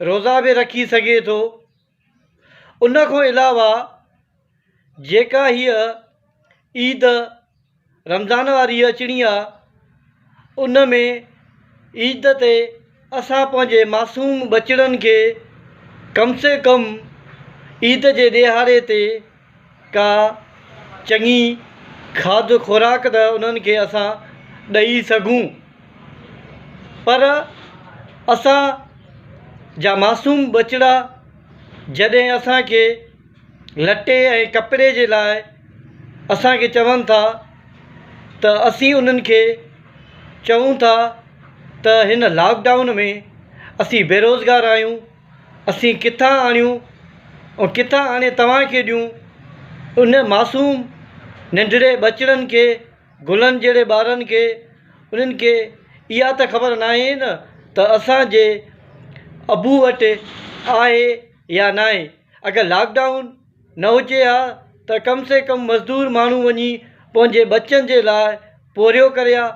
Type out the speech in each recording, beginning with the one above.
روزا به رکي سگهي ٿو. ان کان علاوه جيڪا هيء عيد رمضان واري اچڻي آ ان ۾ عيد تي اسان پنهنجي معصوم ٻچڙن کي ڪم سي ڪم عيد جي ڏهاڙي تي ڪا چڱي کاڌ خوراڪ ته انهن کي اسان ڏئي سگهون پر اسان جا معصوم ٻچڙا جڏهن اسان کي لٽي ۽ ڪپڙي جي لاء اسان کي چون ٿا ته اسين انهن کي چئون ٿا ته هن لاڪ ڊائون ۾ اسين بيروزگار آهيون اسين ڪٿان آڻيون ۽ ڪٿان آڻي توهان کي ڏيون؟ ان معصوم ننڍڙي ٻچڙن کي، گلن جهڙي ٻارن کي، انهن کي اها ته خبر ناهي نه ته اسان جي ابو وٽ آهي يا ناهي. اگر لاڪ ڊائون. نه هجي ها ته ڪم سي ڪم مزدور ماڻهو وڃي پنهنجي ٻچن جي لاء پورهيو ڪري ها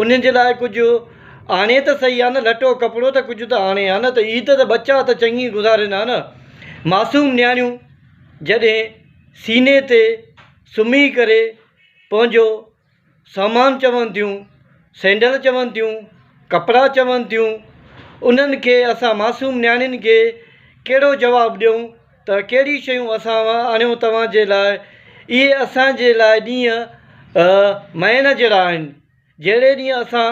انهن جي لاء ڪجهه آڻي ته سهي ها نه لٽو ڪپڙو ته ڪجهه ته آڻي ها نه ته عيد ته ٻچا ته چڱي گذارين ها نه معصوم نياڻيون جڏهن سيني تي سمهي ڪري پنهنجو سامان چون ٿيون، سينڊل چون ٿيون، ڪپڙا چون ٿيون، انهن کي اسان معصوم نياڻين کي ڪهڙو جواب ڏيون ته ڪهڙيون شيون اسان آڻيو توهان جي لاء اهي اسان جي لاء ڏينهن مئن جهڙا آهن جهڙي ڏينهن اسان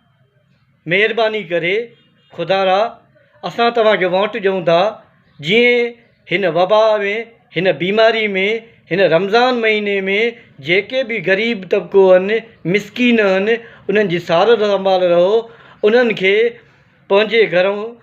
مهرباني ڪري خدا را اسان توهان کي ووٽ ڏيون ٿا جيئن هن وبا ۾ هن بيماري ۾ هن رمضان مهيني ۾ جيڪي بي غريب طبقو هن مسڪين هن انهن جي سار سنڀال رهو انهن کي پنهنجي گهرون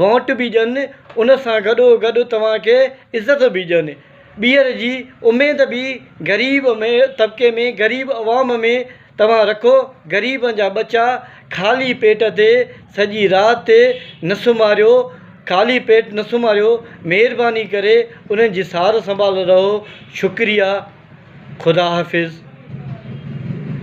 وونٽ به ڏين، ان سان گڏو گڏ توهان کي عزت به ڏين. ٻيهر جي اميد به غريب طبقي ۾ غريب عوام ۾ توهان رکو، غريبن جا ٻچا خالي پيٽ تي سڄي رات نه سمهاريو، خالي پيٽ نه سمهاريو، مهرباني ڪري انهن جي سار سنڀال رهو، شڪريا، خدا حافظ.